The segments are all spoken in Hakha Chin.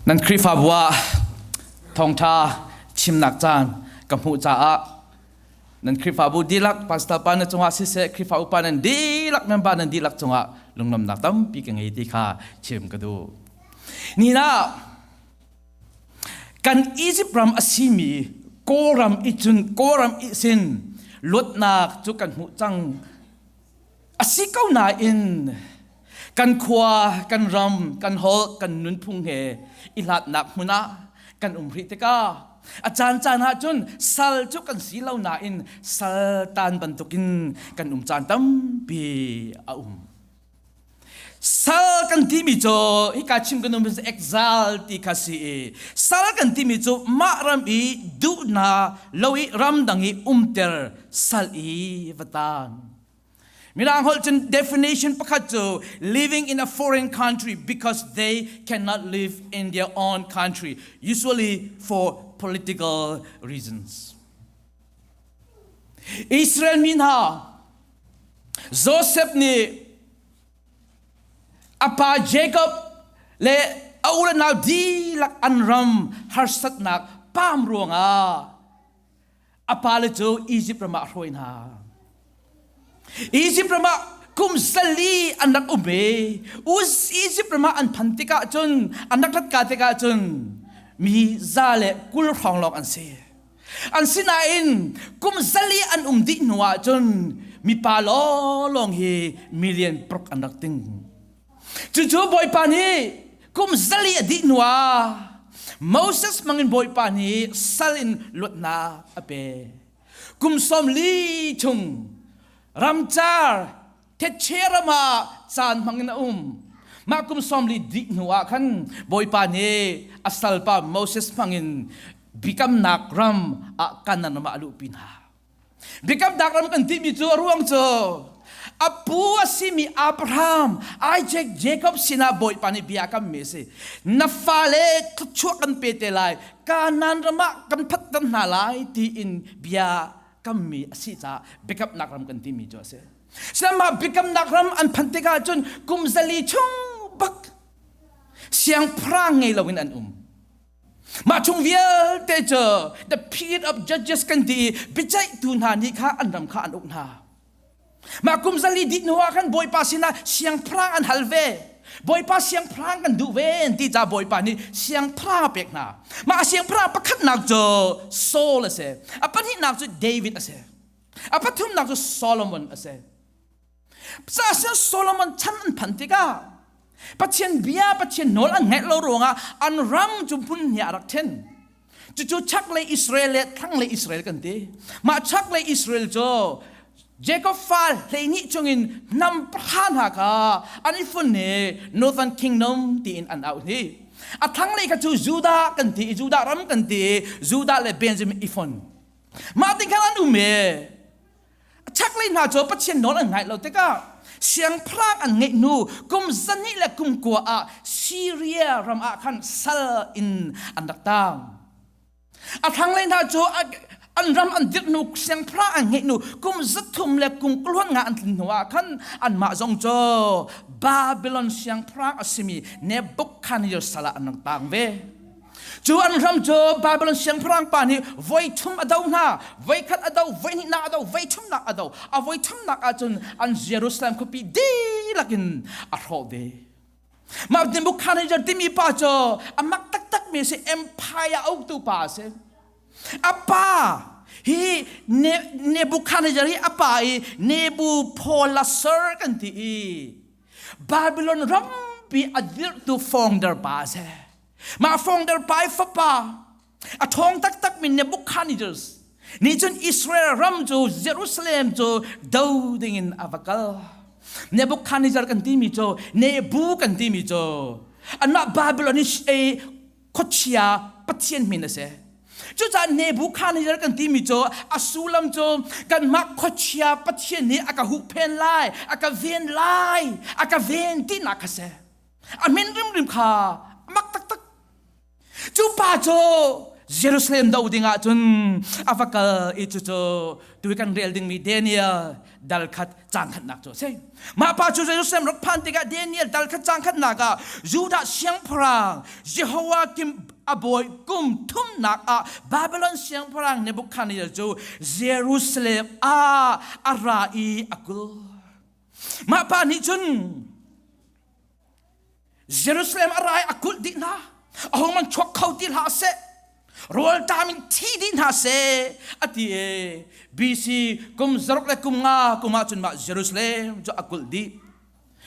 Nan Khrihfabu ah thawngṭha chimnak caan ka hmuh caah nan Khrihfabu dihlak pastor pa na cungah siseh Khrihfa upa nan dihlak member nan dihlak cungah lunglawmnak tampi ka ngei ti kha chim ka duh. Ni na kan Egypt ram a simi Kawlram i cun Kawlram i sin luatnak cu kan hmuh cang a si ko nain kan khua kan ram kan holh kan nunphung he i hlatnak hmun ah kan um rih tikah a caan caan ah cun sal cu kan si lo nain sal tan bantukin kan um caan tampi a um sal kan timi cu hika chim kan um exile ti kha si i sal kan timi cu mah ram i duhna lo i ramdang i umter sal i vatan Mirang holh cun definition pakhat cu living in a foreign country because they cannot live in their own country, usually for political reasons. Israel mi hna, Joseph nih a pa Jacob le a unau dihlak an ram harsatnak pam ruangah a pale cu Izipt ram ah a hruai hna. Izipt ram ah kum sali an rak um ve. Izipt ram ah an phan tikah cun, an rak rat ka tikah cun, mi za le kul hrawng lawng an si. An sinain kum sali an um dih hnuah cun mipa lawlawng hi million paruk an rak ting. Cucu Bawipa nih kum zali a dih hnuah Moses hmangin Bawipa nih sal in luatnak a pek. Kum sawmli chung ramcar thetse ram ah caan hmangin a um. Mah kum sawmli dih hnuah khan Bawipa nih a salpa Moses hmangin biakamnak ram ah Kanaan ram ah a luhpi hna. Biakam dak ram kan timi cu a ruang cu a pu a simi Abraham, Isaac, Jacob sinah Bawipa nih bia kam mi a si. Na fale thluachuah kan pe te lai, Kanan ram ah kan phatter hna lai tiin bia kam mi a si caah biakamnak ram kan timi cu a si. Sihmanhah biakamnak ram an phanh tikah cun kum zali chung bak siangpahrang ngei loin an um. Mah chung vialte cu the period of judges kan ti i biaceihtu hna nih kha an ram kha an uk hna. Mah kum zali dih hnuah khan Bawipa sinah siangpahrang an hal ve. Bawipa siangpahrang kan duh ve ti ca Bawipa nih siangpahrang a pek hna. Mah siangpahrang pakhatnak cu Saul a si. A pahnihnak cu David a si. A pathumnak cu Solomon a si. Pasal Solomon chan an phan tikah Pathian bia Pathian nawl an ngaih lo ruangah an ram cu hmun hnih a rak then cucu chak le Israel le thlang le Israel kan ti mah chak le Israel cu Jacob fa hleini chungin nam pha hna kha an i fun he northern kingdom tiin an au ni a thlang le kha cu Judah kan ti Judah ram kan ti Judah le Benjamin i fon mah ti khan an um e chaklei hna cu pathian nawl an ngaih lo tikah siangpahrang an ngeih hnu kum zani le kum kua ah Syria ram ah khan sal in an rak tang a thlanglei hna cu an ram an dirh hnu siangpahrang an ngeih hnu kum zathum le kum kuluan nga an tlin hnu ah khan anmah zong cu Babylon siangpahrang a simi Nebuchadnezzar sal ah an rak tang ve Cu an ram cu Babilon siangpahrang pa nih voi thum a do hna. Voi khat a do, voi hnihnak a do, voi thumnak a do. A voi thumnak ahcun an Jerusalem khuapi dihlak in a hrawh ve. Mah Nebuchadnezzar timi pa cu a mak taktakmi a si. Empire a uktu pa a si. A pa hi Nebuchadnezzar hi a pa i Nebuchadnezzar kan ti i Babylon rampi a dirhtu founder pa a si. Mah fawngder pai fapa a ṭhawng taktakmi Nebuchadnezzar nih cun Israel ram cu Jerusalem cu do dingin a va kal. Nebuchadnezzar kan timi cu Nebu kan timi cu anmah Babilon i khuachia pathian min a si. Cucaah Nebuchadnezzar kan timi cu a sullam cu kanmah khuachia pathian nih a ka huhphenh lai, a ka ven lai, a ka ven tinak kha a si. a min rimrim kha a mak taktak cu pa cu Jerusalem do ding ah cun a va kal i cu cu tu kan rel dingmi Daniel dal khat cang khatnak cu a si mah pa cu Jerusalem rak phan tikah Daniel dal khat cang khatnak ah Judah siangpahrang Jehoiakim a bawi kum thumnak ah Babylon siangpahrang Nebuchadnezzar cu Jerusalem ah a ra i a kul mah pa nih cun Jerusalem a rai a kulh dih hna a hong man chuak kho ti hlah seh rawltam in thi dih hna seh a ti e BC kum zaruk le kum nga kum ah cun mah Jerusalem cu a kulh dih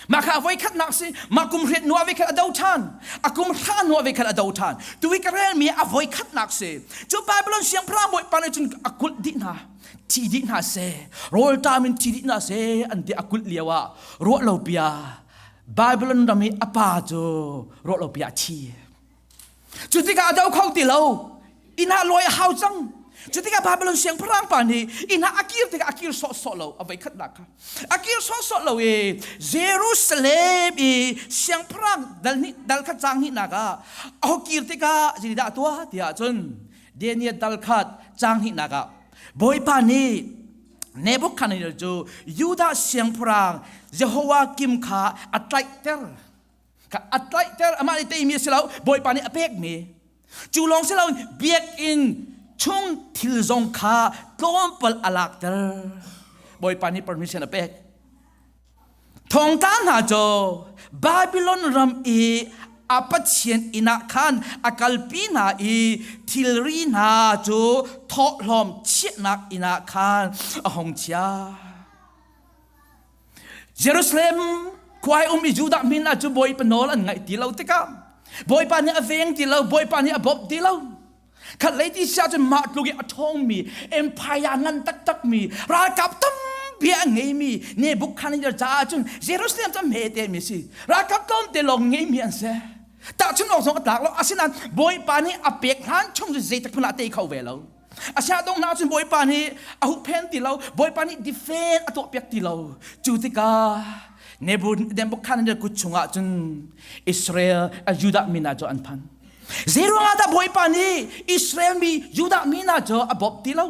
mah kha voi khat nak si mah kum hriat nuwa ve khat a do than a kum hra nuwa ve khat a do than tu i ka rel mi a voi khat nak si cu Babylon siang phra moi pa ne cun a kulh dih hna thi dih hna se rawltam in thi dih hna se an ti a kulh lio ah ruah lo bia Babylon ram i a pa cu ruah lo bia a thi cu tikah do kho ti lo ina loi a hau cang cu tikah Babylon siangpahrang pa nih ina a kir tikah a kir sawh sawh lo a voi khat nak kha a kir sawh sawh lo i Jerusalem i siangpahrang dal hnih dal khat cang hnih nak ah a ho kir tikah zini dah tuah tiah cun Daniel dal khat cang hnihnak ah Bawipa nih Nebuchadnezzar cu Judah siangpahrang Jehoiakim kha a tlaihter. Kha a tlaihter amah nih teimi a si lo Bawipa nih a pekmi. Cu lawng si loin biakinn chung thil zong kha tlawmpal a lakter. Bawipa nih permission a pek. Thawngtla hna caw Babilon ram i a pathian inn ah khan a kalpi hna i thilri hna cu thawhlawm chiahnak inn ah khan a hong chiah. Jerusalem khuai um i Judah min ah cu Bawipa nawl an ngaih ti lo tikah Bawipa nih a veng ti lo, Bawipa nih a bawmh ti lo. khatlei ti sia cun mah tluk i a ṭhawngmi empire ngan taktakmi ralkap tampi a ngeimi Nebuchadnezzar caah cun Jerusalem cu hmetemi a si ralkap tlawmte lawng ngeimi an si tahchun awk zong a tlak lo asinain bawipa nih a pek hlan chung cu zeitak hmanh ah tei kho ve lo asiah dong hna cun bawipa nih a huhphen ti lo bawipa nih defend a tuahpiak ti lo cu tikah Nebuchadnezzar kut chungah cun Israel a Judah mi hna cu an phan Zeiruangah dah Bawipa nih Israel mi Judah mi hna cu a bawmh ti lo?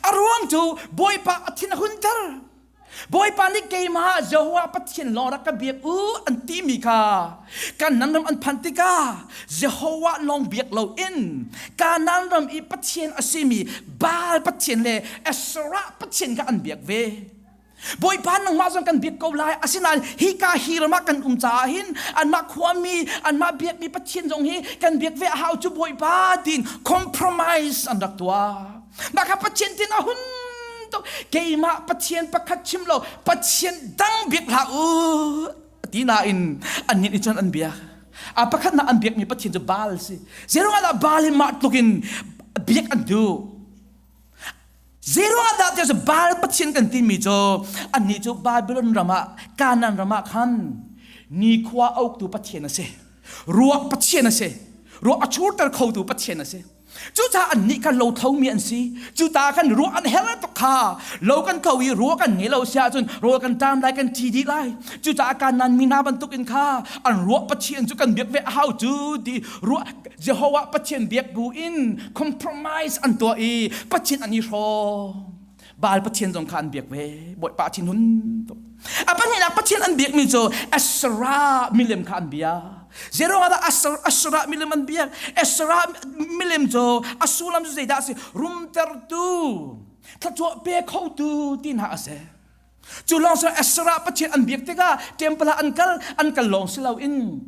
A ruang cu Bawipa a thin a hunter. Bawipa nih keimah ah Jehovah Pathian lawng rak ka biak u an timi kha kan nan ram an phanh tikah Jehovah lawng biak loin Kanaan ram i Pathian a simi Baal pathian le Asherah pathian kha an biak ve. Bawipa nangmah zong kan biak ko lai asinain hika hi ram ah kan um caah hin anmah khuami anmah biakmi Pathian zong hi kan biak ve a hau cu Bawipa tiin compromise an rak tuah mah kha Pathian tin a hun tuk keimah Pathian pakhat chim lo Pathian dang biak hlah u ti nain an nih cun an biak a pakhat na an biakmi Pathian cu Baal si zeirung ah dah Baal hi mah tlukin biak an duh Zeruahdah there's a Baal pathian kan timi cu annih cu Babylon ram ah Kanaan ram ah khan nikhua uktu pathian a si ruak pathian a si ruak a churter khotu pathian a si cucaah annih kha lothlomi an si cuta kan ruah an herh tuk kha lo kan tho i ruah kan ngei lo si ahcun rawl kan ṭam lai kan ṭi dih lai cucaah kanan mi hna bantukin kha an ruah pathian cu kan biak ve a hau cu ti ruah Jehovah Pathian biak buin compromise an tuah i Pathian an i hrawm Baal Pathian zong kha an biak ve Bawipa thinhun tuk a pahnihnak Pathian an biakmi cu Asherah milem kha an biak Zeruiah Asherah, Asherah milem an biak Asherah milem cu a sullam cu zeidah a si rumtertu thluachuah pe khotu ti hna a si cu lawng si Asherah Pathian an biak tikah temple ah an kal an kal lawng si loin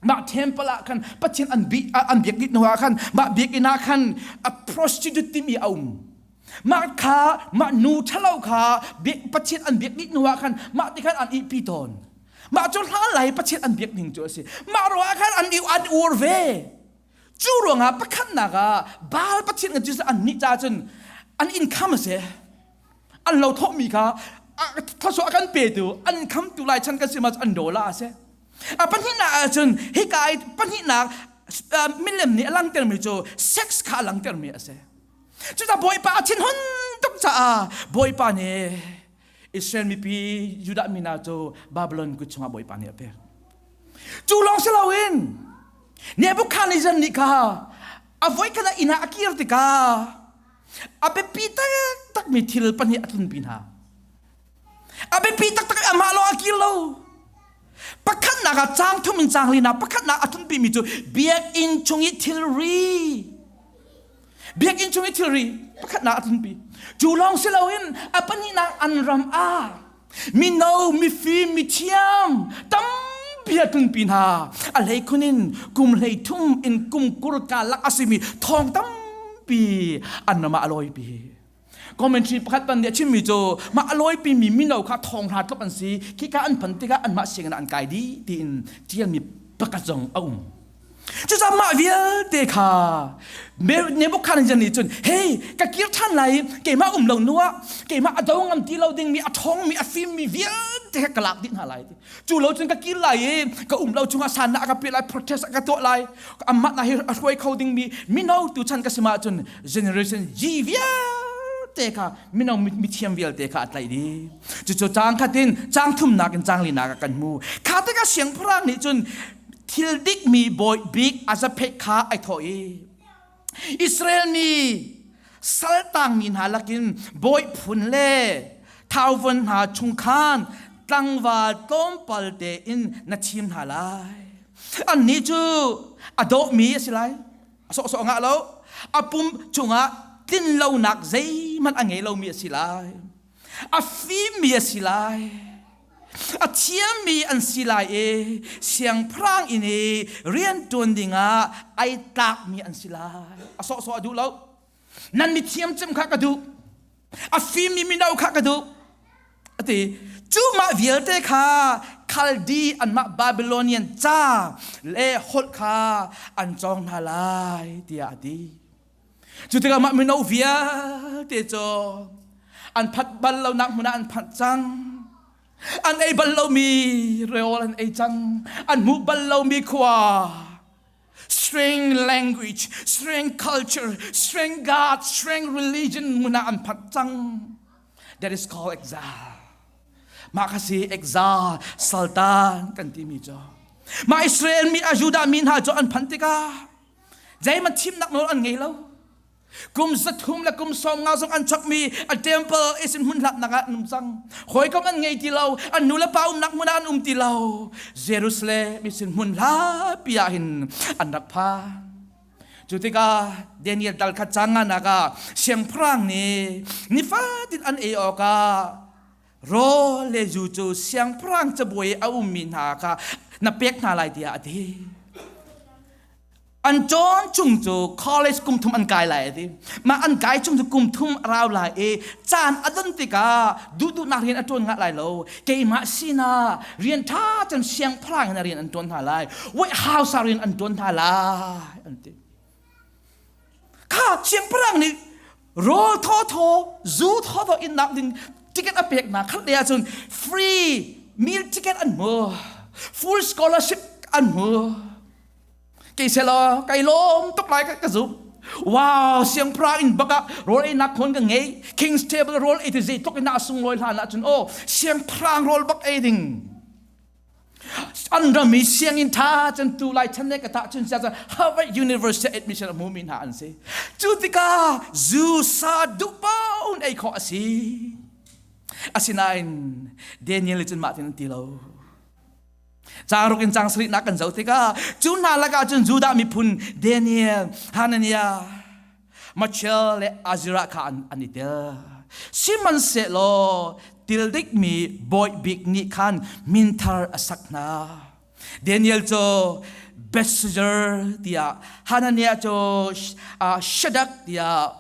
mah temple ah khan pathian an bi an biak dih hnuah khan mah biakinn ah khan a prostitute timi a um mah kha mah nu ṭhalo kha pathian an biak dih hnuah khan mah ti khan an ihpi tawn mah cu hlalai pathian an biak ning cu a si mah ruangah khan an an ur ve cu ruangah pakhatnak ah baal pathian cu an nih ca cun an income a si an lo thomi kha thluachuah kan petu an khamtu lai chan kan si mas an dola ase a pahnihnak ah cun hika i pahnihnak milem nih a langtermi cu sex kha a langtermi ase cuca bawipa a thinhun tuk caah bawipa nih Israel mipi Judah mi hna cu Babylon kut chungah bawipa nih a pek cu lawng si loin Nebuchadnezzar nih kha a voi khat a inn ah a kir tikah a biapi taktakmi thil pahnih a tlunpi hna a biapi taktak i amah lo a kir lo pakhatnak ah caang thum in caang hali na pakhatnak a tlunpimi cu biakinn chung i thilri biakinn chung i thilri pakhatnak a tlunpi cu lawng si loin a pahnihnak an ram ah Mino, mifim, mithiam tampi a tlunpi hna. A hlei khun in kum hlei thum in kum kur ka lak a simi thawng tampi an ram ah a lawipi. Commentary pakhat pan nih a chimmi cu mah a lawipimi mino kha thawng hra tlop an si. Khi ka an phan tikah anmah sianginn ah an kai dih tiin ṭialmi pakhat zong a um. Cucaah mah vialte kha Nebuchadnezzar nih cun hei ka kir ṭhan lai i keimah um lo nu ah keimah a do ngam ti lo dingmi a ṭhawngmi a fimmi vialte kha ka lak dih hna lai cu lo cun ka kir lai i ka um lo chungah sanah a ka piah lai protest a ka tuah lai amahnak hi a hruai kho dingmi mino tu chan ka si ma cun generation G vialte kha mino mithiam vialte kha a tlaih dih cucu cang khatin cang thumnak in cang linak kan hmu kha tikah siangpahrang nih cun thil dikmi bawi bik Azaphet kha ai thawh i Israel mi saltangmi hna lakin bawi phun le thauvon hna chung khan tlangval tlawmpal tein na thim hna lai annih cu a dawhmi a si lai a sawhsawh ngah lo a pum chungah tlin lonak zeihmanh a ngei lomi a si lai a fimmi a si lai a thiammi an si lai e siangpahrang in i rianṭuan dingah ai tlakmi an si lai a sawhsawh a duh lo nan mi thiam cem kha ka duh a fimmi mino kha ka duh a ti cu mah vialte kha khaldi anmah babylonian ca le holh kha an cawng hna lai tiah a ti cu tikah mah mino vialte cu an phat bal lo nak hmun ah an phat cang an ei bal lomi reol an ei cang an hmu bal lomi khua streng language streng culture streng god streng religion hmun ah an phat cang that is called exile mah kha si exile sultan kan timi cu mah Israel mi a Judah mi hna cu an phanh tikah zeihmanh thimnak nawl an ngei lo kum zathum le kum sawm nga zong an chakmi a temple is in hmun hlatnak ah an um cang hawikom an ngei ti lo an nu le pa umnak hmun ah an um ti lo Jerusalem is in hmun hlapi ah hin an rak phan cu tikah Daniel dal kha canga naka siangpahrang nih nifatin an ei awkah Ro le zu cu siangpahrang cabuai a ummi hna kha na pek hna lai tiah a ti. An ṭon chung cu college kum thum an kai lai a ti. Mah an kai chung cu kum thum a rau lai i caan a don tikah duhduhnak rian a ṭuan ngah lai lo. Keimah sinah rian ṭha cun siangpahrang in a rian an ṭuan hna lai. White House ah rian an ṭuan hna lai an ti. kha chiatparang nih raw thawthaw zu thawthaw in nak ding ticket a pek na khat le ahcun free meal ticket an mu full scholarship an mu kei se lo kai lawm tuk lai ka, ka zum wow siangpra in baka rol ei nak khon ka ngei king's table rol ei ti zei tuk in na sung loi hlan ahcun o siangprang rol bak ei ding an rami sianginn ṭha cun tu lai chan ne ka tah cun siasa Harvard University admission a hmumi hna an si cu tikah zu sa duh paun ei khawh a si asinain Daniel cun mah tin an ti lo Caruk in cang sarih nak kan zoh tikah cu hna lakah cun Judah miphun Daniel Hananiah Machel le Azirah kha an, an i tel. Sihmanhsehlaw til dikmi bawi bik nih khan minthar a sak hna. Daniel cu Bethshazzar tiah Hananiah cu uh, Shadak tiah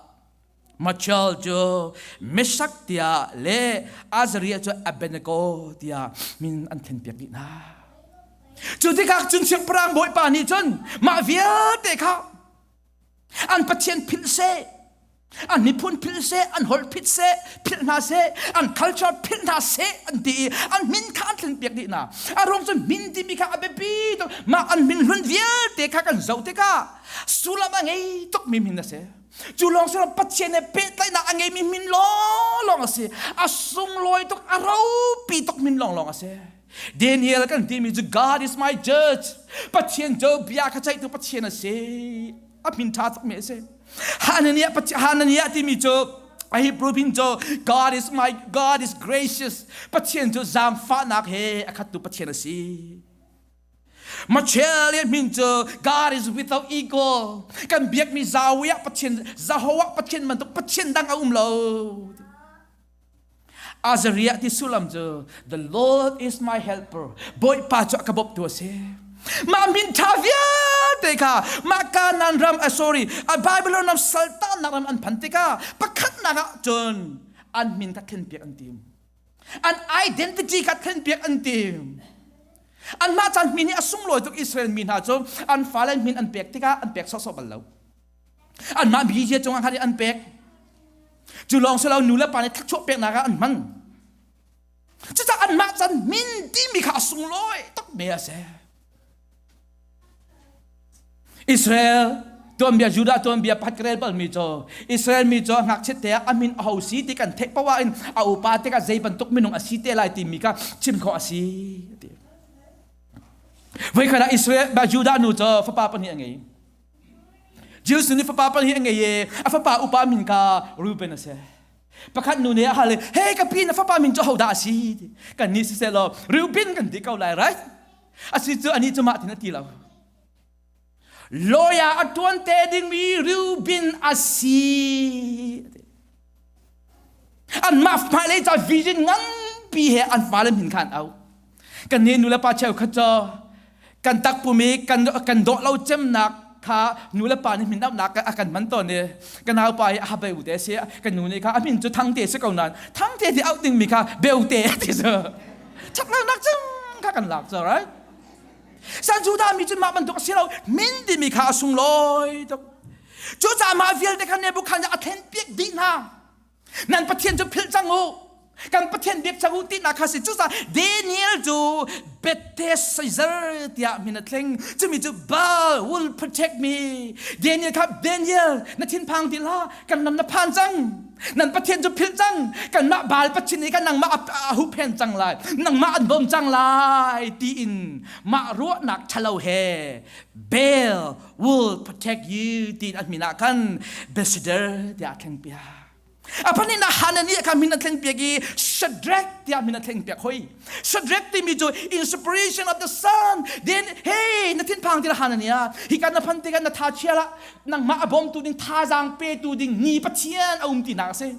Machel cu Meshak tiah le Azariah cu Abednego tiah min an thenpiak dih hna. Cu tikak cun siangpahrang bawipa nih cun mah vialte kha an pathian philh seh an miphun philh seh an holh phit seh philh hna seh an culture philh hna seh an ti i an min kha an tlun piak dih hna a ruang cun min timi kha a biapi tuk mah an min hlun vialte kha kan zoh tikah sullam a ngei tukmi min a si cu lawng si lo pathian he pehtlaihnak a ngeimi min lawnglawng a si a sunglawi tuk a ropi tuk min lawnglawng a si Daniel kan timi cu God is my judge Pathian jo bia kha ceihtu Pathian a si a min ṭha cakmi a si Hananiah Hananiah timi cu a Hebrew pin cu God is my God is gracious Pathian cu zaangfahnak he a khattu Pathian a si Australia min cu God is without equal kan biakmi zawi ah Pathian zaho ah Pathian bantuk Pathian dang a um lo Azariah ti sulam cu the Lord is my helper Bawipa cu a ka bawmh tu a si mah min ṭha vialte kha mah Kanaan ram a sorry a Babylon ram saltannak ram an phan tikah pakhatnak ah cun an min kha thlen piak an tim an identity kha thlen piak an tim anmah caan min hi a sunglawi tuk Israel mi hna cu an fale min an pek tikah an pek sawhsawh bal lo anmah bikizia cungah khan an pek cu lawng si lo nu le pa nih thakchuah peknak ah an hman cucah anmah can min timi kha a sunglawi tak me a si Israel tuanbia Judah tuanbia pat rel bal mi cho Israel mi cho ngakchiat te a min a ho si ti kan thek pawa in a upa te ka zei bantuk minung a si te lai ti mi ka chim kho a si ti voi khana Israel Judah nu cho fapa pahnih a ngei Jesuh nih fapa pal hi a ngei e a fapa upa min ka Ruben a si pakhat nu nih a hal i hei ka pi na fapa min cu hodah a si kan nih siseh law Reuben kan ti ko lai right a si cu anih cu mah tin a ti lo lawyer a tuan te dingmi Reuben a si anmah hmailei ca vision nganpi he an fale min khan au kan ne nu le pa cheu khat cu kan takpum i kan kan dawh lo cemnak kha nu le pa nih min auhnak a kan man tawn i ka naupa hi a beu te si kan nu nih kha a min cu thang te si ko nain thang te ti auh dingmi kha beu te ti si chak lonak cem kha kan lak cu right san juda mi cu mah bantuk a si lo min timi kha a sunglawi tuk Cucaah mah vialte kha Nebukhadnezzar a thlen piak dih hna. Nan Pathian cu philh cang u. Kan Pathian biak cang u tinak kha si. Cucaah Daniel cu Betheshazzar tiah min a thleng. Cumi cu Baal will protect me. Daniel kha Daniel na thinphang ti la kan lam na phan cang. Nan Pathian cu philh cang. Kanmah Baal pathin i kan nangmah a, a huhphen cang lai. Nangmah an bawm cang lai tiin mah ruahnak ṭhalo he Baal will protect you ti a min ah khan ambassador tiah a thleng pia a pan in a hanani kha min a thleng piak i Shadrach tiah min a thleng piak hoi Shadrach timi cu inspiration of the sun then hey na thin phang tir hanania hi kan na phan ti kan na tha chia la nangmah a bom tu ding thazang pe tu ding ni pathian a um ti na se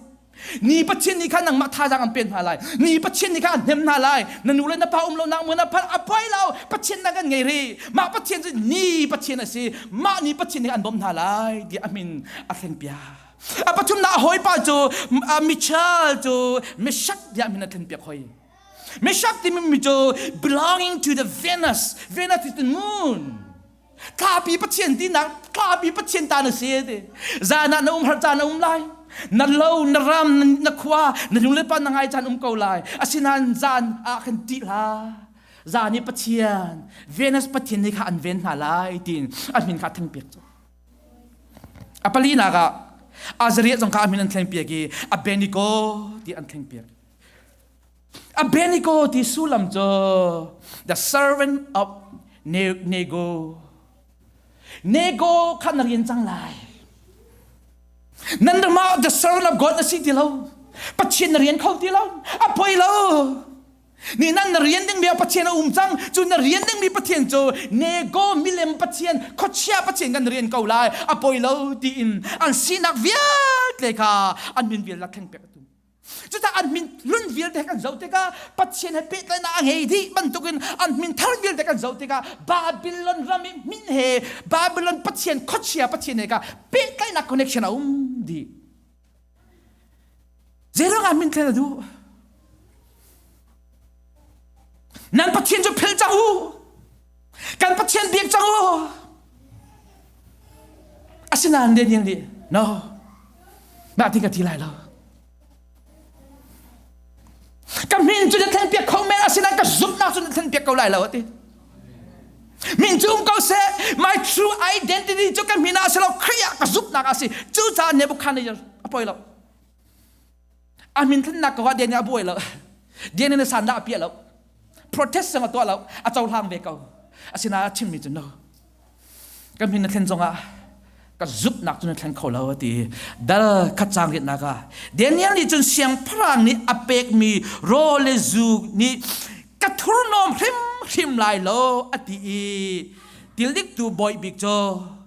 Ni Pathian nih khan nangmah thazaang an pen hna lai. Ni Pathian nih khan an hnem hna lai. Na nu le na pa um lo nak mui na phal a poi lo. Pathian nak an ngei rih. Mah Pathian cu ni Pathian a si. Mah ni Pathian nih an bawmh hna lai tiah a min a thleng piak. A pathumnak a hawipa cu a Michal cu Meshak tiah min a thleng piak hoi. Meshak timi mi cu belonging to the Venus. Venus is the moon. tlapi pathian tinak tlapi pathian ta na si te zan ah na um har caan na um lai na lo na ram na khua na lung le pa na ngai caan um ko lai asinain zan ah kan ti la zan i pathian venus pathian ni kha an ven hna lai tin a min kha theng piak cu a pali na ka azaria zong kha a min an thleng piak i a benigo ti an thleng piak Abednego ti sullam cu the servant of Nego. Nego kha na rian cang lai. Nan ramah the servant of God na si ti lo. Pathian na rian kho ti lo. A poi lo. Ni nan na rian dingmi a Pathian a um cang. Cu na rian dingmi Pathian cu nego milem Pathian khochia Pathian kan rian ko lai. A poi lo tiin an sinak vialte kha an min vial la thleng pek a tum. Cucah an min hlun vialte kan zoh tikah Pathian he pehtlaihnak a ngei dih bantukin an min thar vialte kan zoh tikah Babylon ram i min he Babylon Pathian khuachia Pathian he ka pehtlaihnak connection a um dih. Zeiruang ah min thlen a duh? Nan Pathian cu philh cang u. kan pathian biak cang u asinain Daniel nih no mah ti ka ti lai lo ka min cu na thlen piak kho men asinain ka zumhnak cu na thlen piak ko lai lo a ti min cu um ko seh my true identity cu ka min ah si lo Khrih ah ka zumhnak ah si cucaah Nebuchadnezzar a poi lo a min thlennak ko ah dia nih a buai lo dia nih na san dah a piah lo protest sang a tuah lo a cohlang ve ko asinain a chimmi cu no kan min na thlen zong ah ka zumhnak cu na thleng kho lo a ti dal khatcang ritnak ah Daniel nih cun siangpahrang nih a pekmi raw le zu nih ka thurhnawm hrimhrim lai lo a ti i tildiktu bawi bik cu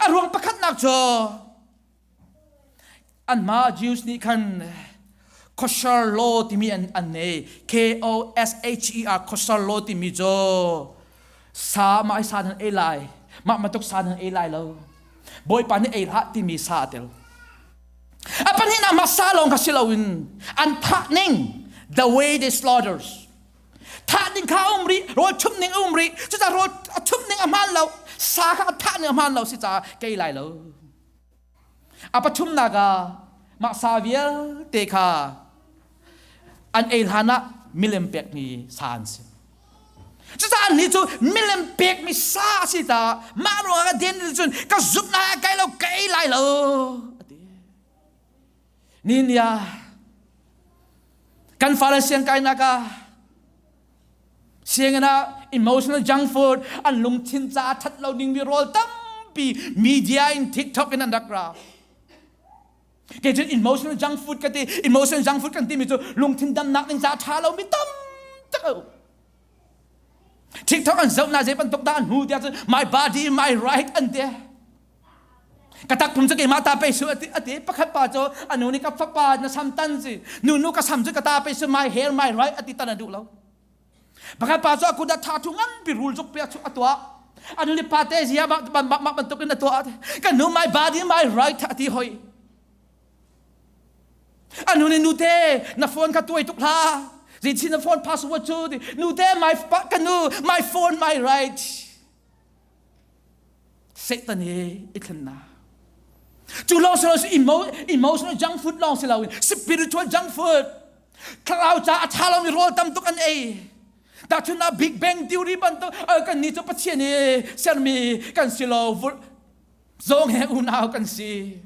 a ruang pakhatnak cu anmah Jews nih khan khuashar law timi an an nei K O S H E R khuashar law timi cu sa mah hi sa nan ei lai mah matuk sa nan ei lai lo bawipa nih ei hlah timi sa a tel a pahnih nak mah sa lawng kha si loin an thah ning the way they slaughters thah ning kha a um rih rawl chumh ning a um rih cucaah rawl a chumh ning a hmaan lo sa kha a thah ning a hmaan lo si caah kei lai lo a pathumnak ah mah sa vialte kha an ei hlan ah milem pekmi sa an si cucaah ni cu milem pekmi sa a si caah mah ruangah den cun ka zumh hna kai lo ka ei lai lo Ninia kan fale siang kainak ah sianginn ah emotional junk food an lungthin caah that lo dingmi rawl tampi media in tiktok in an rak ra kei cun emotional junk food ka ti emotional junk food kan timi cu lungthin damnak ding caah tha lomi tam tak a um TikTok an zoh na zei bantuk dah an hu tiah cun my body my right an te ka takpum cu keimah ta pei su ati pakhat pa cu anu nih ka fapa na sam tan si nunu ka sam cu ka ta pei su my hair my right ati tan a duh lo pakhat pa cu a kut a tha thu ngan pi rul cuk pia chu a tuah an li pa te zia ma bantuk in a tuah kan nu my body my right ati hoi An hun in nute na phone kha tuai tuk hlah. Zinchin na phone password cu nute my kan nu my phone my right. Satan he i thlennak. Cu lo si lo si emotional junk food long si lo in spiritual junk food. Thlarau ca a tha lomi rawl tam tuk an ei. Tahchun ah Big Bang theory bantuk kan ni cu Pathian i sermi kan si lo Zong he unau kan si.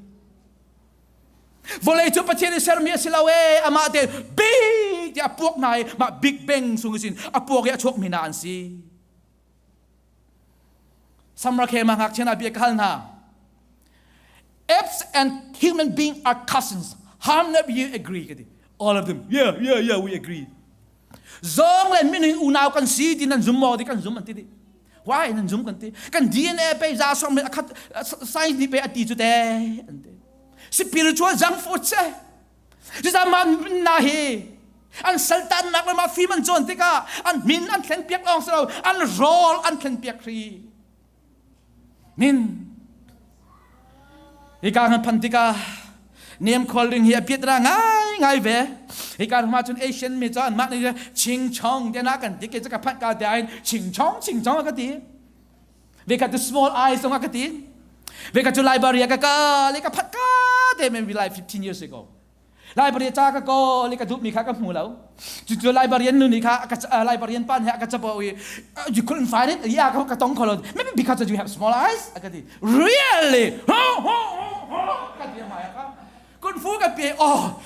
Vawlei cu Pathian i sermi a si lo e amah te big tiah a puak hna i mah big bang sung isin a puak i a chuak mi hna an si. Samrakhema ngakchia na bia ka hal hna. Apes and human being are cousins. How many of you agree? All of them. Yeah, yeah, yeah, we agree. Zawng le minung unau kan si ti nan zum maw ti kan zum an ti dih. Why nan zum kan ti? Kan DNA pe za song me akhat science ni pe ati chu te an ti. Spiritual junk food se. Jita man na hi an saltan nak le ma fi man chon tikah an min an thlen piak ong selo an rawl an thlen piak ri. min hika kan phan tikah nem khual ring hi a piat ra ngai ngai ve hika ruma cun asian mi cun mah ni ching chong te na kan ti ke ka phan ka te ain ching chong ching chong ka ti ve ka tu small eyes ong ka ti ve ka tu library ka ka le ka phat ka te men vi like 15 years ago Library ca ka kawl i ka duhmi kha ka hmu lo. Cucu librarian nu nih kha a ka librarian pa nih a ka cabo i you couldn't find it yeah ka ka tong kholon maybe because you have small eyes a ka ti really ho ho ho ka ti mai ka kun fu ka pe oh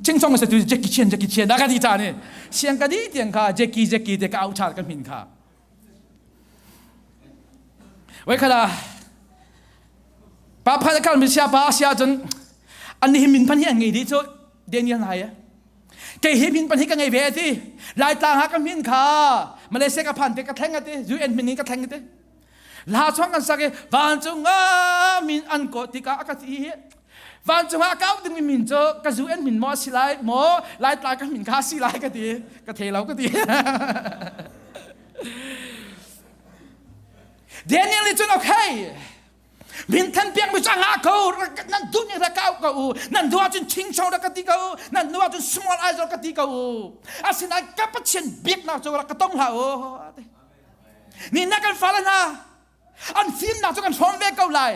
ching song sa tu Jackie Chan Jackie Chan da ka di ta ni siang ka di tiang kha Jackie Jackie te ka au chal ka min kha Wai khala pa phan kal mi sia pa sia chun an hi min pan hi an ngei di chu Daniel na ya kei hi min pan hi ka ngei ve ti lai tlang ha ka min kha Malaysia ka phan te ka thleng ati UN min ni ka thleng ati la chuang kan sak i van chung a min an ko tika aka ti hi vancung ah kau dingmi min cu ka zu en min maw a si lai maw lai tlai ka min kha a si lai ka ti ka thei lo ka ti Daniel nih cun okay min than piak mi chang ha ko nan du ni ra kau ko u nan du cun ching cho ra ka ti ko u nan nu cun small eyes ra ka ti ko u asinain ka pathian biak nak chu ra ka tong hla o ni na kan fala na an fimnak cu kan hrawm ve ko lai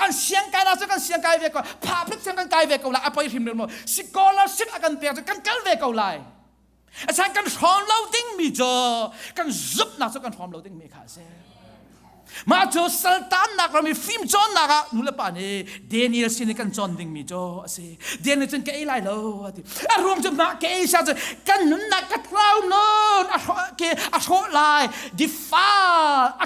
an siangkainak cu kan siangkai ve ko phaprit siang kan kai ve ko lai a poi hrim maw scholarship a kan pek cu kan kal ve ko lai asan kan hrawm lo dingmi cu kan zumhnak cu kan hrawm lo dingmi kha a si mah cu saltannak ram i fim cawnnak ah nu le pa nih Daniel sin i kan cawn dingmi cu a si Daniel cun ka ei lai lo a ti a ruang cu mah ka ei sa cu kan nunnak ka tlau nun a hrawh ke a hrawh lai defile a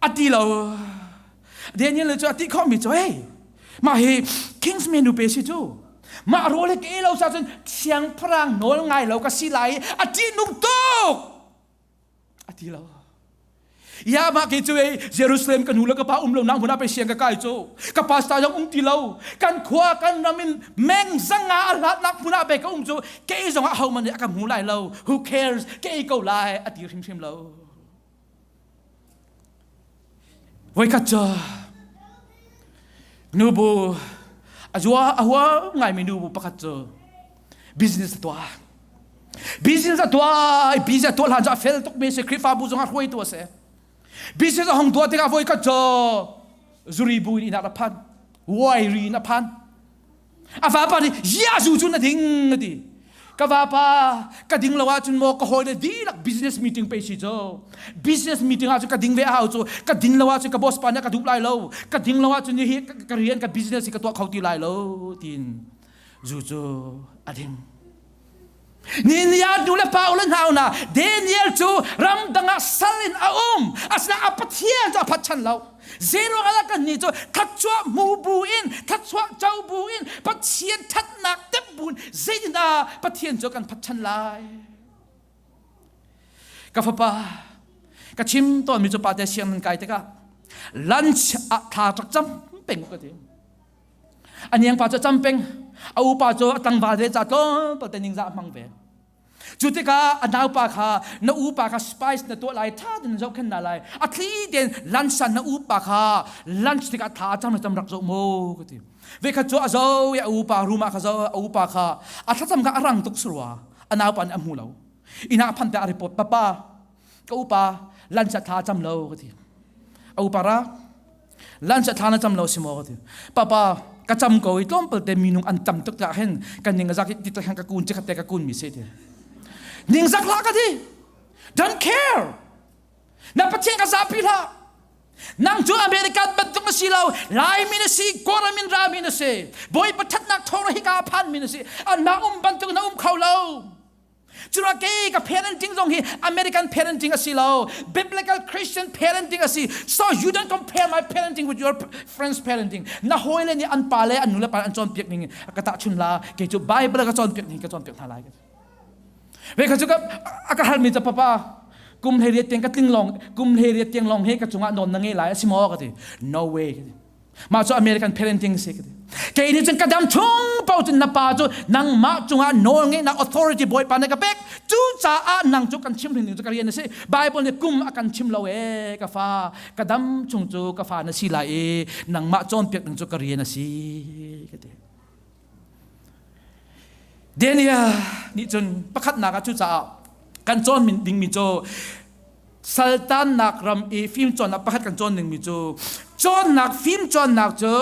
a ti lo Daniel cu a ti khawmi cu hei mah hi kings menu pe si cu mah role ke lo sa cun siangpahrang nawl ngai lo ka si lai a ṭihnung tuk a ti lo ya ma ke cu ei Jerusalem ka nu le ka pa um lo na hmun ah pe siang ka kai cu ka pa sta jong um ti lo kan khua kan ram in meng zanga a hlat nak hmun ah pe ka um cu ke zong ah ho man nih a ka hmu lai lo who cares ke ko lai a ti hrimhrim lo Voikhat cu nubu a zua a hua ngaimi nubu pakhat cu business a tuah. Business a tuah i business a tuah hlan cu a fel tukmi a si Khrihfabu zong ah hruaitu a si. Business a hong tuah tikah voikhat cu zuribu in inn ah a phan. Wairi in a phan. a vapa nih Jesuh cu na ding a ti ka vapa ka ding lo ahcun maw ka hawi le dihlak business meeting pe si cu business meeting ahcun ka ding ve a hau cu ka ding lo ahcun ka boss pa nih ka duh lai lo ka ding lo ahcun hi ka rian ka business hi ka tuah kho ti lai lo tiin zu cu a dim Niniah nu le pa u le nau hna Daniel cu ramdang ah sal in a um asinain a pathian cu a phat chan lo zeiruang ah kan nih cu thatchuah hmu bu in thatchuah co bu in pathian thatnak temh bu in zeitindah pathian cu kan phat chan lai ka fapa ka chim tawnmi cu pate siang nan kai tikah lunch ah thla rak cam peng ka ti a niang pa cu a cam peng a upa cu a tlangval ve ca tlawm palte ning za a hmang ve cu tikah a naupa kha na upa kha spice na tuah lai ṭha ten zohkhen na lai a thli ten lansan na upa kha lunch tikah thla a cam na cam rak zoh maw ka ti ve khat cu a zo i a upa room ah kha zo a upa kha a thlacam kha a rang tuk surwa a naupa nih a hmu lo ina phan te a report papa ka upa lansa thla cam lo ka ti a upa ra lan cha thla na cam lo si maw ka ti papa ka cam ko i tlawm palte minung an tam tuk ka hen kan ning zak ti ta khan ka kun che ka te ka kun mi se te ning zak la ka di don't care na pathian ka zapi la nang cu america bat tung si lo lai min si kora min ra min si boy pathat nak thor hi ka phan min si an na um ban tung na um kho lo Cura kei ka parenting zong hi American parenting a si lo. Biblical Christian parenting a si. So you don't compare my parenting with your friend's parenting. Na hawi le nih an pa le an nu le pa an cawnpiak ning ka tah chun la ke cu Bible ka cawnpiak ning ka cawnpiak hna lai ka. Ve ka cu ka a ka hal mi ta papa kum hlei riat tiang ka tling long kum hlei riat tiang long he ka cungah non na nge lai a si maw ka ti no way ka ti mah cu american parenting si ka ti kei nih cun ka dam chung po cun na pa cu nangmah cungah nawl ngeihnak authority bawipa na ka pek cu caah nang cu kan chim hrin ding cu ka rian a si bible nih kum a kan chim lo e ka fa ka dam chung cu ka fa na si lai i nangmah cawnpiak ding cu ka rian a si ka ti Daniel nih cun pakhatnak ah cucaah kan cawn dingmi cu saltannak ram i fimcawnnak pakhat kan cawn dingmi cu cawnnak fimcawnnak cu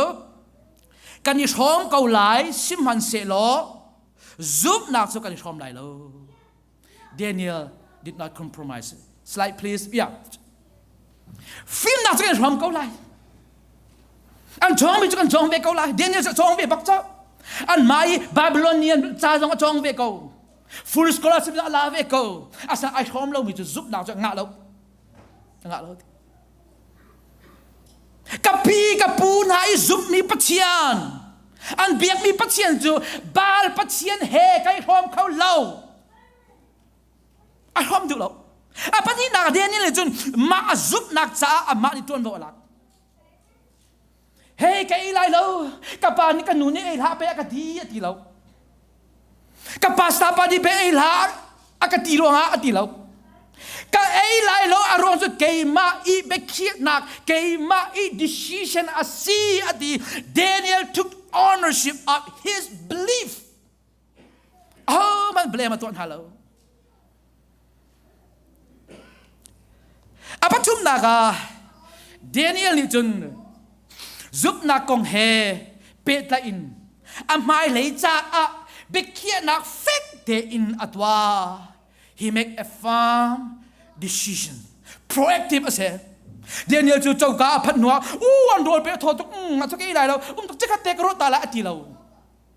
kan i hrawm ko lai sihmanhsehlaw zumhnak cu kan i hrawm lai lo Daniel did not compromise. Slide, please. Yeah. Fimnak cu kan hram ko lai. An cawng mi cu kan cawng ve ko lai. Daniel cu cawng ve bak cak. An mai Babylonian ca zong a cawng ve ko. Full scholarship a la ve ko. Asa ai hrom lo mi cu zupnak cu ngah lo. Ngah lo. Ka pi ka pu hna i zumhmi Pathian an biakmi Pathian cu Baal Pathian he kai hrawm kho lo a hrawm duh lo a pahnihnak Daniel nih cun mah a zumhnak caah amah nih ṭuanvo a lak Hei ka ei lai lo ka pa nih ka nu nih ei hlah pe a ka ti a ti lo ka pastor pa nih pe ei hlah a ka ti ruangah a ti lo ka ei lai lo a ruang cu keimah i biakhiahnak keimah i decision a si a ti Daniel took ownership of his belief Ahohmanh blame a tuah hna lo. A pathumnak ah Daniel nih cun zumhnak kong he pehtlaih in a hmailei caah biakhiahnak fek tein a tuah. He make a firm decision. Proactive a si. Daniel cu coka a phat hnuah, u an rawl pe thaw tuk, mm, a cuk ei lai lo, um tuk cikhat te ka ruah ta la a ti lo.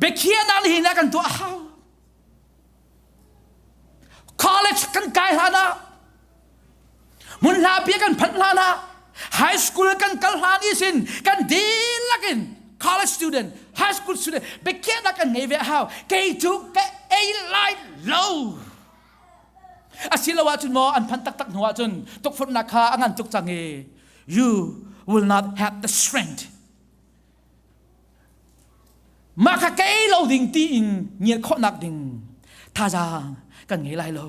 biakhiahnak nih hin a kan tuah a hau college kan kai hlan ah mun hla bia kan phanh hlan ah high school kan kal hlan i sin kan dihlak in college student high school student biakhiahnak kan ngei ve a hau kei cu ka ei lai lo asilo ahcun maw an phanh taktak hnu ahcun tukfutnak kha a ngan tuk cang i you will not have the strength mah kha kei lo ding tiin ngiat khawhnak ding thazaang kan ngei lai lo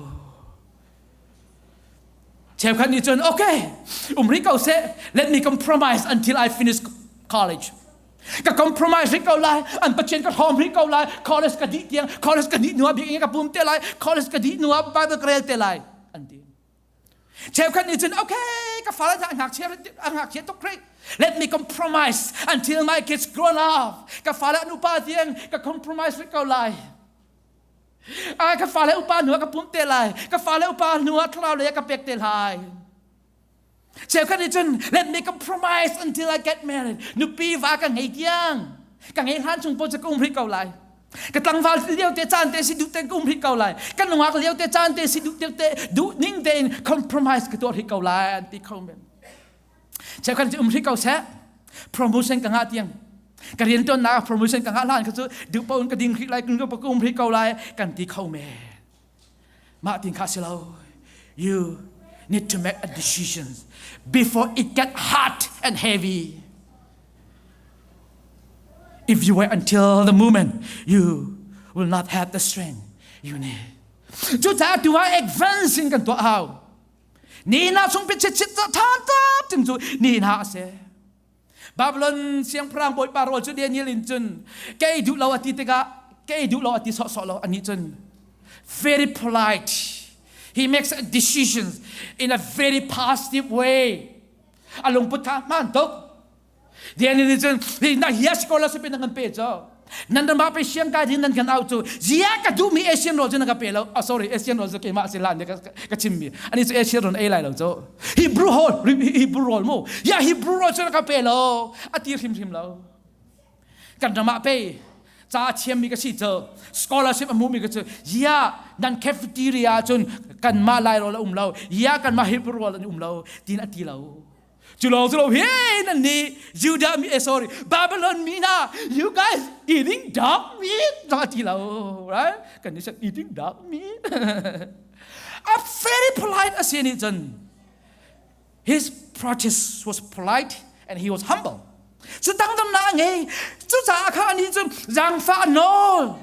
cheukhat nih cun okay um rih ko seh let me compromise until I finish college ka compromise rih ko lai an pathian ka hlawm rih ko lai college ka dih tiang college ka dih nuah biak ka pum te lai college ka dih nuah bible ka rel te lai an ti Chefkhat nih cun, okay, ka fale a ngakchia a ngakchia tuk rih. Let me compromise until my kids grown up. Ka fale nupa tiang ka compromise rih ko lai. Ah, ka fale upa hnuah ka pumte lai. Ka fale upa hnuah thlau le ka pek te lai. Cheukhat nih cun let me compromise until I get married nupi va ka ngei tiang ka ngei hlan chung po cu ka um ri ko lai ka tlangval lio te caan te si duh te ka um ri ko lai ka nungak lio te caan te si duh te te duh ning tein compromise ka tuar ri ko lai an ti kho men cheukhat cu um ri ko se promotion ka nga tiang ka rian tuan na promotion ka nga hlan ka cu duh po un ka ding ri lai ka um ri ko lai kan ti kho men Mah tin kha si lo. You need to make a decision before it get hard and heavy. If you wait until the moment, you will not have the strength you need. Cu caah tu ah advance in kan tuah hau. Ni na chung pit chit chit than ta tin cu ni na ase. Babylon siangpahrang bawipa rawl cu Daniel in cun kei duh lo a ti tikah kei duh lo a ti sawhsawh lo anih cun very polite he makes decisions in a very positive way a lungput kha hmaan tuk Daniel nih cun na hi a sikola supin a ngan pe cu nan ram ah pe siang kai din nan kan au cu zia ka duh mi asian rol cu na ka pe lo oh sorry asian rol cu keimah si lan ka ka chim mi ani chu asian rol ei lai lo chu hebrew hol hebrew rol mu ya hebrew rol cu na ka pe lo ati hrim hrim lo kan ram ah pe ca chiam mi ka si cu scholarship amu mi ka cu ya nan cafeteria cun kan ma lai rol a um lo ya kan ma hebrew rol an um lo tin ati lo Cu lawng cu lo hi nan nih Judah mi eh sorry Babylon mi hna you guys eating dog meat no a ti lo right kan ni eating dog meat a very polite a si nih cun his practice was polite and he was humble cu tangdamnak a ngei cucaah kha ni cun zangfah nawl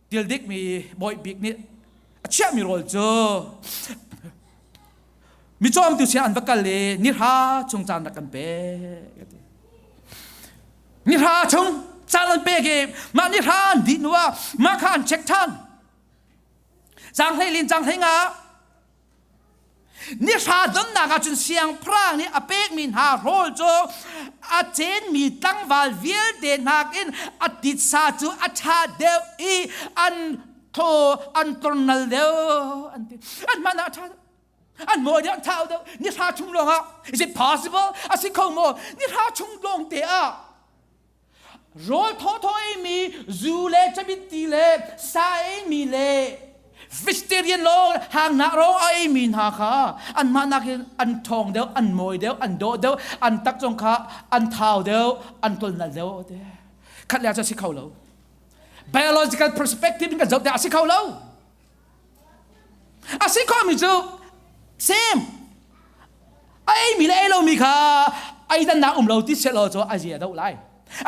Til dikmi bawi bik nih a chiahmi rawl cu mi cawmtu sia an va kal i nihra chung caan rak kan pek nihra chung caan an pek i mah nihra an dih nu ah mah kha an check ṭhan cang hlei lin cang hlei nga Ni hra donnak ah cun siangpahrang nih a pekmi hna rawl cu a cenmi tlangval vialte nakin a titsa cu a ṭha deuh i an thaw an tornal deuh an ti an hman ah a ṭha an mawi deuh an thau deuh ni hra chung lawngah is it possible a si kho maw ni hra chung lawng te ah rawl thawthaw eimi zu le cabiti le sa eimi le vegetarian lo hangnak ro a eimi hna kha anmah nakin an ṭhawng deuh an mawi deuh an daw deuh an tak zong kha an thau deuh an tolnal deuh te khat le a si kho lo biological perspective in kan zoh te a si kho lo A si khomi cu same a eimi le ei lomi kha eidannak um lo ti sehlaw cu a zia a do lai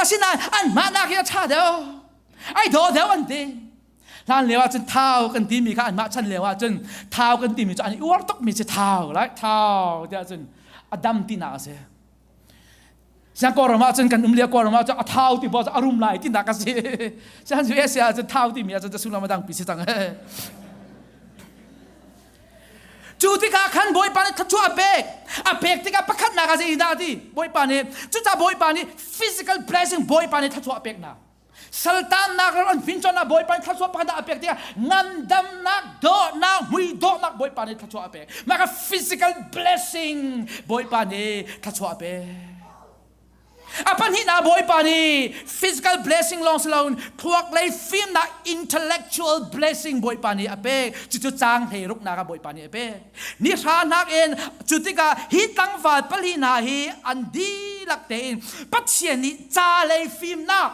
asinain an mahnak hi a ṭha deuh ai daw deuh an ti hlan lio ahcun thau kan timi kha anmah chan lio ahcun thau kan timi cu an i uar tukmi cu thau lai thau tiah cun a dam tinak a si Siang kawram ah cun kan um lia kawram ah cun a thau ti bo a rum lai ti nak ka si. Siang cu Asia ah cun thau ti mi ah cun sullam a dang pi si cang. Cu tikah khan Bawipa nih thluachuah a pek. A pek tikah pakhat nak a si dah ti. Bawipa nih cuca Bawipa nih physical blessing Bawipa nih thluachuah a pek na. saltannak ram an fin chon ah bawipa nih thluachuah pakhat dah a pek tiah ngandamnak dawhnak vui dawhnak bawipa nih thluachuah a pek maka physical blessing bawipa nih thluachuah a pek a pahnihnak bawipa nih physical blessing lawng si loin thluak lei fimnak intellectual blessing bawipa nih a pek cucu cang hlei ruknak ah bawipa nih a pek ni hranak in cu tikah hi tlangval pali hna hi an dihlak tein Pathian nih ca lei fimnak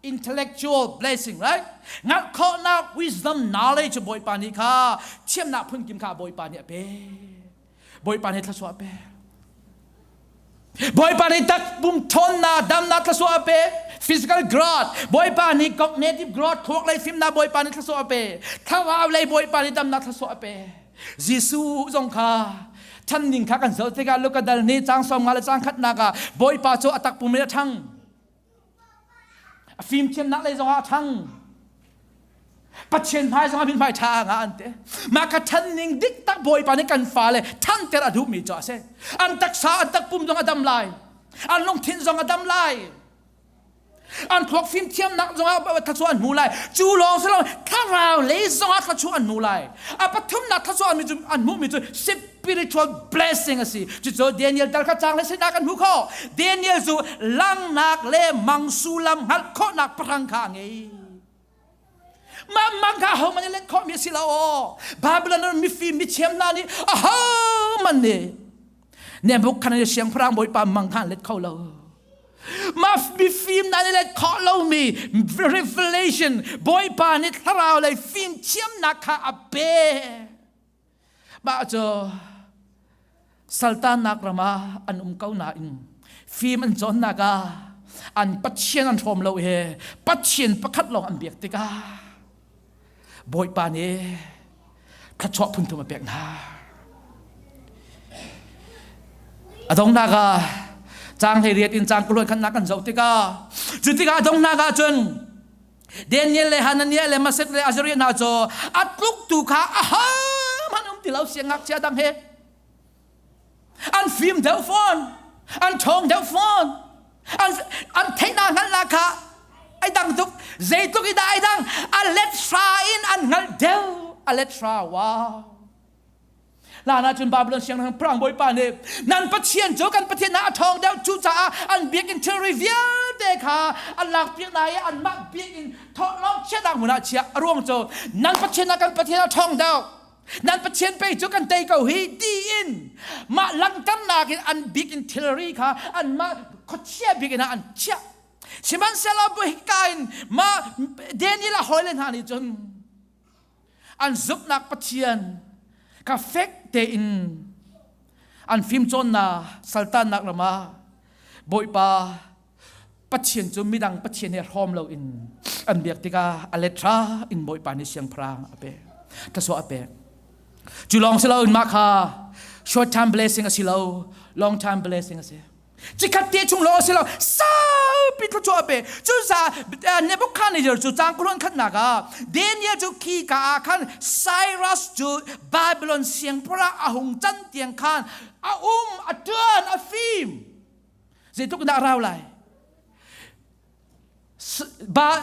intellectual blessing right ngalh khawhnak wisdom knowledge cu bawipa nih kha thiamnak phun kim kha bawipa nih a pek bawipa nih thluachuah a pek Bawipa nih tak pum ṭhawnnak damnak thlasua a pe physical growth Bawipa nih cognitive growth khuak lei fimnak Bawipa nih thlasua a pe thlarau lei Bawipa nih damnak thlasua a pe Jesuh zong kha ṭhan ning kha kan zoh tikah Luka dal nih cang sawm nga le cang khatnak ah Bawipa cu a tak pum in a ṭhang A fimthiamnak lei zongah a ṭhang. Pathian hmai zongah min hmai ṭha nga an te. Mah ka ṭhanning dik tak Bawipa nih kan fale ṭhanter a duhmi cu a si. An taksa, an takpum zong a dam lai. An lungthin zong a dam lai. An thluak fimthiamnak zongah thluachuah an hmu lai. Cu lawng si lo, thlarau lei zongah thluachuah an hmu lai. A pathumnak thluachuah an hmuhmi cu spiritual blessing a si cucu Daniel dal kha cang le sinah kan hmu kho Daniel cu langnak le mang sullam hngalh khawhnak parang kha a ngei mah mang kha ho man in let khawhmi a si lo Babylon ram mifim mithiam hna nih a ho man nih Nebuchadnezzar siangpahrang bawipa mang kha an let kho lo mah mifim na let khawh lomi revelation bawipa nih thlarau lei fimthiamnak kha a pek mah cu saltannak ram ah an um ko nain fim an cawnnak ah an pathian an hrawm lo he pathian pakhat lawng an biak tikah bawipa nih thluachuah phunthum a pek hna a dongnak ah cang hlei riat in cang kuluan khannak kan zoh tikah cu tikah a dongnak ah cun Daniel le Hananiah le Masek le Azariah hna cu a tluk tu kha a ha man um ti lo siangak cia dang he an fim deuh fawn an thong deuh fawn an an theihna ngal la kha ai dang tuk zeitluk i dah ai dang a let hra in an ngal deuh a let hra wow Hlan ahcun Babylon sianginn prang bawipa nih nan pathian cu kan pathian ah a ṭhawng deuh cucaah an biakinn thilri vialte kha an lakpiak hna i anmah biakinn thawhlawm chiahnak hmun ah chiah a ruang cu nan pathian ah kan pathian a ṭhawng deuh nan pathian pei cu kan tei ko hi tiin mah langhternak in an biakinn thilri kha anmah khuachia biakinn ah an chiah sihmanhsehlaw bu hika in mah Daniel a hawile hna nih cun an zumhnak Pathian ka fek tein an fimcawnnak saltannak ram ah Bawipa Pathian cu midang Pathian he hrawm loin an biak tikah a letra in Bawipa nih siangpahrang a pek thluachuah a pek cu lawng si loin mah kha short time blessing a si lo long time blessing a si Cikhat te chung lo si lo saupi thu chuah pe cu sa Nebuchadnezzar cu cang khuruan khat nak ah Daniel cu khi ka ah khan Cyrus cu Babylon siangpura a hung can tiang khan a um a ṭuan a fim zeitluk dah rau lai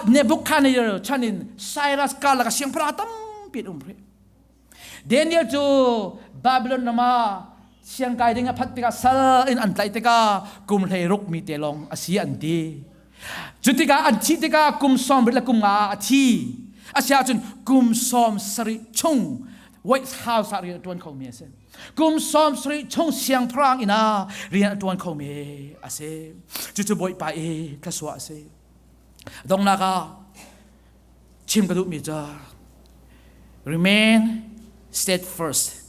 Nebuchadnezzar chan in Cyrus karlak a siangpahrang tampi um rih. Daniel cu Babylon ram ah siangkai ding a phat tikah sal in an tlaih tikah kum hlei ruk mi te lawng a si an ti. Cu tikah an thi tikah kum sawm rit le kum nga a thi. A si ahcun kum sawm sarih chung White House ah rian a ṭuan khomi a si. kum sawm sarih chung siangpahrang inn ah rian a ṭuan khomi a si cucu bawipa i thlasua a si donghnak ah chim ka duhmi cu remain steadfast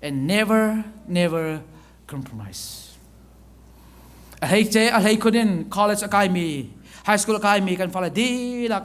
and never never compromise a hei ce a hlei khun in college a kaimi high school a kaimi kan fale dihlak